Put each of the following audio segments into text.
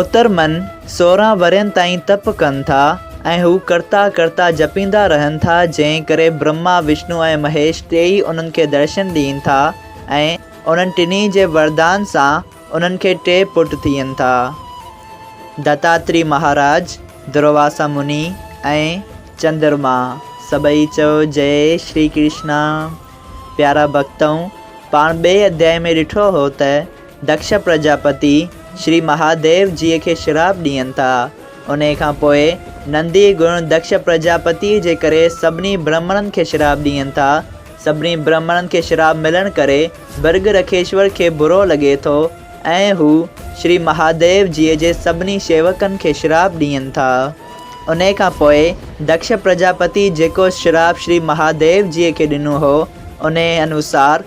اتر من سورهن ورهين تائين تپ ڪن ٿا ۽ هو ڪرتا ڪرتا جپيندا رهن ٿا جنهن ڪري برهما وشنو ۽ مهيش ٽيئي انهن کي درشن ڏين ٿا ۽ انهن ٽنهي جي وردان سان انهن کي ٽي پٽ ٿين ٿا دتاتري مهاراج، درواسا مني ۽ چندرما سڀئي چيو جئي شري ڪرشنا پيارا ڀڳتؤن پاڻ ٻئي اڌيائي ۾ ڏٺو هو ته دکش پرجاپتي شري مهاديو جيء کي شراپ ڏين ٿا. انهيء کان پوء نندي گڻ دکش پرجاپتيء جي ڪري سڀني برهمڻن کي شراپ ڏين ٿا. سڀني برهمڻن کي شراپ ملڻ ڪري برگ رکيشور کي برو لڳي ٿو ۽ هو شري مهاديو جيء جي سڀني شيوڪن کي شراپ ڏين ٿا. انهيء کان پوء دکش پرجاپتي جيڪو شراپ شري مهاديو جيء کي ڏنو هو، انهيء انوسار،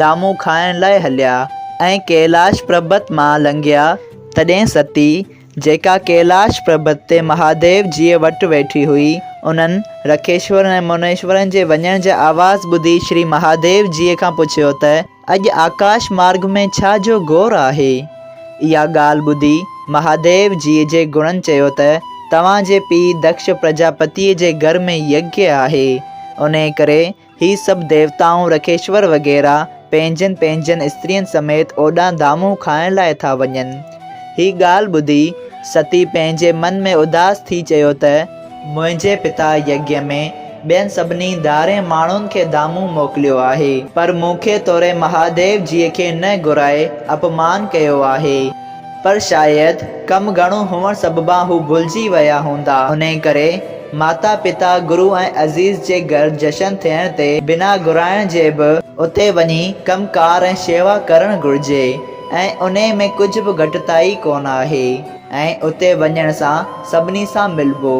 ڄامون کائڻ لاء هليا ۽ ڪيلاش پربت مان لنگهيا تڏهن ستي، جيڪا ڪيلاش پربت تي مهاديو جيء وٽ ويٺي هئي، انهن رکيشورن ۽ منيشورن جي وڃڻ جا آواز ٻڌي شري مهاديو جيء کان پڇيو ته، اڄ آڪاش مارگ ۾ ڇا جو گور آهي؟ اها ڳالهه ٻڌي مهاديو جيء جي گڻن چيو ته، توهان جي پيء دڪش پرجاپتيء جي گهر ۾ يگيه آهي، انهيء ڪري، هي سڀ ديوتائون، رکيشور وغيره، پنهنجين پنهنجين استرين سميت اوڏانهن دامون کائڻ لاء ٿا وڃن. هي ڳالهه ٻڌي، ستي پنهنجي من ۾ اداس ٿي چيو ته. منهنجي پتا يگيا ۾ ٻين سڀني ڌارين ماڻهن کي دامون موڪليو آهي. پر مون کي توڙي مهاديو جيء کي نه گهرائي اپمان ڪيو آهي. پر شايد ڪم گهڻو هئڻ سببان هو ڀلجي ويا هوندا. انهيء ڪري ماتا پتا، گرو ۽ عزيز جي گهر جشن ٿيڻ تي بنا گهرائڻ جي به اتي وڃي ڪم ڪار ۽ شيوا ڪرڻ گهرجي ۽ انهيء ۾ ڪجهه به گهٽتائي ڪونه آهي ۽ اتي وڃڻ سان سڀني سان ملبو.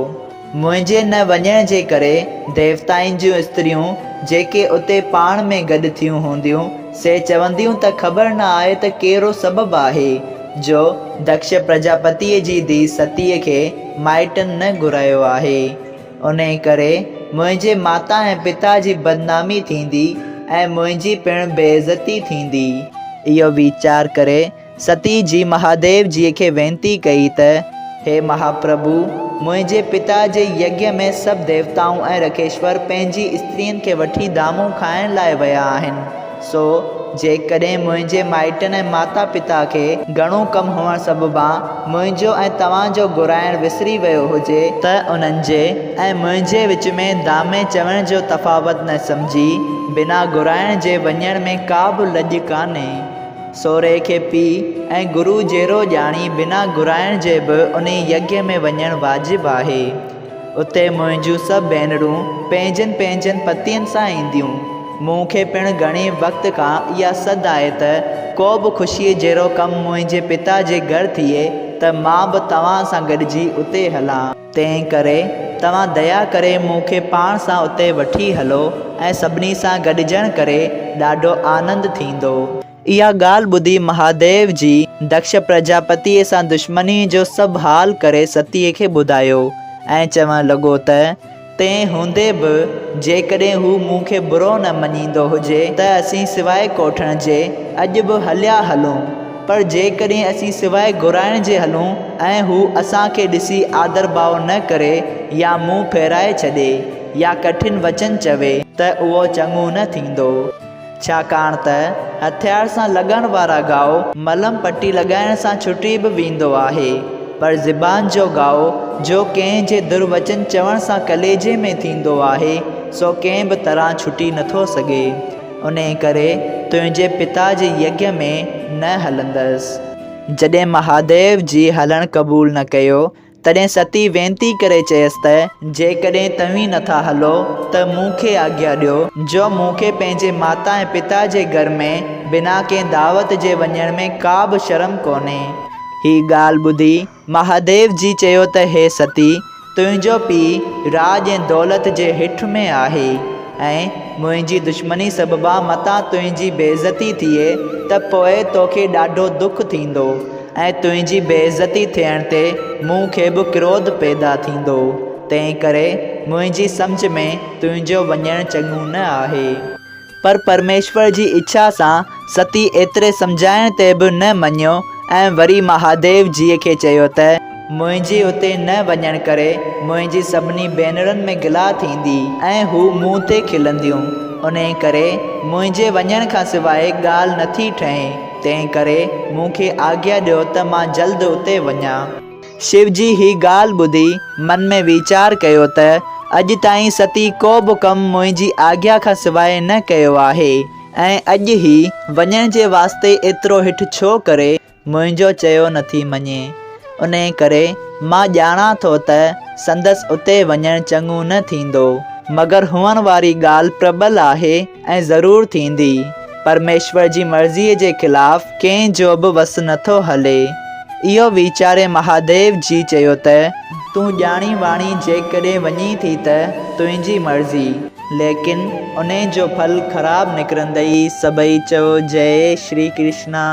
منهنجي نه وڃڻ جي ڪري ديوتائن جون استريون جيڪي اتي پاڻ ۾ گڏ ٿيون هونديون، سي چونديون ته خبر نه آهي ته ڪهڙو سبب آهي جو دڪش پرجاپتيء جي ڌيء ستيء کي مائٽن نه گهرايو آهي. انهيء ڪري منهنجي ماتا ۽ پتا جي بدنامي ٿيندي ۽ منهنجي پڻ بي عزتي ٿيندي. اهو ويچار ڪري ستي جي مهاديو جيء کي وينتي ڪئي ته، هي مهاپرڀو! منهنجي پتا جي يگيا ۾ سڀ ديوتائون ۽ رکيشور پنهنجي استرين کي وٺي دامون کائڻ لاء ويا آهن، سو جيڪڏهن منهنجي مائٽن ۽ ماتا پتا کي، گهڻو ڪم هئڻ سببان منهنجو ۽ توهان جو گهرائڻ وسري ويو هجي، ته انهن جي ۽ منهنجي وچ ۾ دامي چوڻ جو تفاوت نه سمجهي، بنا گهرائڻ جي وڃڻ ۾ ڪا به لڄ ڪانهي. سورهيه کي پيء ۽ گرو جهڙو ڄاڻي بنا گهرائڻ جي به انهي يگيء ۾ وڃڻ واجب آهي. اتي منهنجيون سڀ ڀينرون پنهنجن پنهنجن پتين سان اينديون. مون کي پڻ گهڻي وقت کان اها سڌ آهي ته ڪو به خوشيء جهڙو ڪم منهنجي پتا جي گهر ٿئي ته مان به توهان سان گڏجي اتي هلان. تنهن ڪري توهان ديا ڪري مون کي پاڻ سان اتي وٺي هلو ۽ سڀني سان گڏجڻ ڪري ڏاڍو آنند ٿيندو. اها ڳالهه ٻڌي مهاديو جي دڪش پرجاپتيء سان دشمنيء جو سڀ حال ڪري ستيء کي ٻڌايو ۽ چوڻ لڳو ته، تنهن هوندي به جيڪڏهن هو مون کي برو نه مڃيندو هجي ته اسين سواء ڪوٺڻ جي اڄ به هليا هلون. پر جيڪڏهن اسين سواء گهرائڻ جي هلون ۽ هو اسان کي ڏسي آڌر ڀاء نه ڪري يا منهن ڦيرائي ڇڏي يا ڪٺن وچن چوي ته اهو چڱو نه ٿيندو ڇاڪاڻ ته هٿيار سان لڳڻ وارا گهاء ملم پٽي لڳائڻ سان ڇٽي به ويندو آهي پر زبان جو گهاء جو ڪنهن جي در وچن چوڻ سان ڪليجي ۾ ٿيندو آهي سو ڪنهن به طرح ڇٽي نٿو سگهي. انهيء ڪري تنهنجي پتا جي يگيء ۾ نه هلندس. جڏهن مهاديو جي هلڻ قبول نه ڪيو، تڏهن ستي وينتي ڪري چيس ته، جيڪڏهن توهين نه ٿا هلو ته مون کي آگيا ڏيو، جو مون کي پنهنجي ماتا ۽ پتا جي گهر ۾ بنا ڪنهن دعوت جي وڃڻ ۾ ڪا به شرم ڪونهي. هيء ڳالهه ٻڌي مهاديو جي چيو ته هي ستي، تنهنجو پيء راڄ ۽ دولت جي هٺ ۾ آهي ۽ منهنجي دشمني سببان متان تنهنجي بيعزتي ٿئي ته پوء توکي ڏاڍو دک ٿيندو ۽ تنهنجي بيعزتي ٿيڻ تي مون کي به ڪروڌ پيدا ٿيندو، تنهنڪري منهنجي سمجهه ۾ تنهنجو وڃڻ چڱو نه آهي. پر پرميشور جي اڇا سان ستي ايتري سمجهائڻ تي به نه مڃيو ۽ وري مهاديو جيء کي چيو ته. منهنجي اتي نه وڃڻ ڪري منهنجي سڀني ڀينرن ۾ گلا ٿيندي ۽ هو مون تي کلنديون. انهيء ڪري منهنجي وڃڻ کان سواء ڳالهه نه ٿي ٺهي. تنهن ڪري مون کي آگيا ڏيو ته مان جلد اتي وڃان. شيوجي هي ڳالهه ٻڌي من ۾ ويچار ڪيو ته اڄ تائين ستي ڪو به ڪم منهنجي آگيا کان سواء نه ڪيو آهي ۽ اڄ هي وڃڻ جي واسطي ايترو هٺ ڇو ڪري منهنجو چيو نٿي مڃي. انهي ڪري مان ڄاڻان ٿو ته سندس اتي وڃڻ چڱو نه ٿيندو. مگر هئڻ واري ڳالهه پربل آهي. ۽ ضرور ٿيندي. پرميشور جي مرضيء جي خلاف ڪنهن جو به وس نٿو هلي. اهو ويچاري مهاديو جي چيو ته، تون ڄاڻي واڻي جيڪڏهن وڃين ٿي ته تنهنجي مرضي. ليڪن انهي جو ڦل خراب نڪرندئي سڀئي چيو جئي شري ڪرشنا.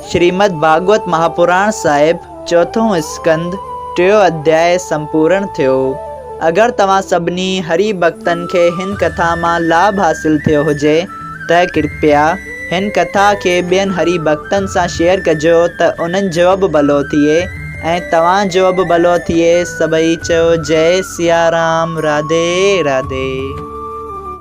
شريمد ڀاڳوت مهاپراڻ صاحب چوٿون اسڪند ٽيون اڌياء سمپورڻ ٿيو. اگر توهان سڀني هري ڀڳتن کي هن ڪٿا مان لاڀ حاصل ٿيو هجي ته ڪرپيا هن ڪٿا کي ٻين هري ڀڳتن سان شيئر ڪجو ته انهن جو به ڀلو ٿئي ۽ توهان جو به ڀلو ٿئي سڀئي چئو جئي سيارام راڌي راڌي.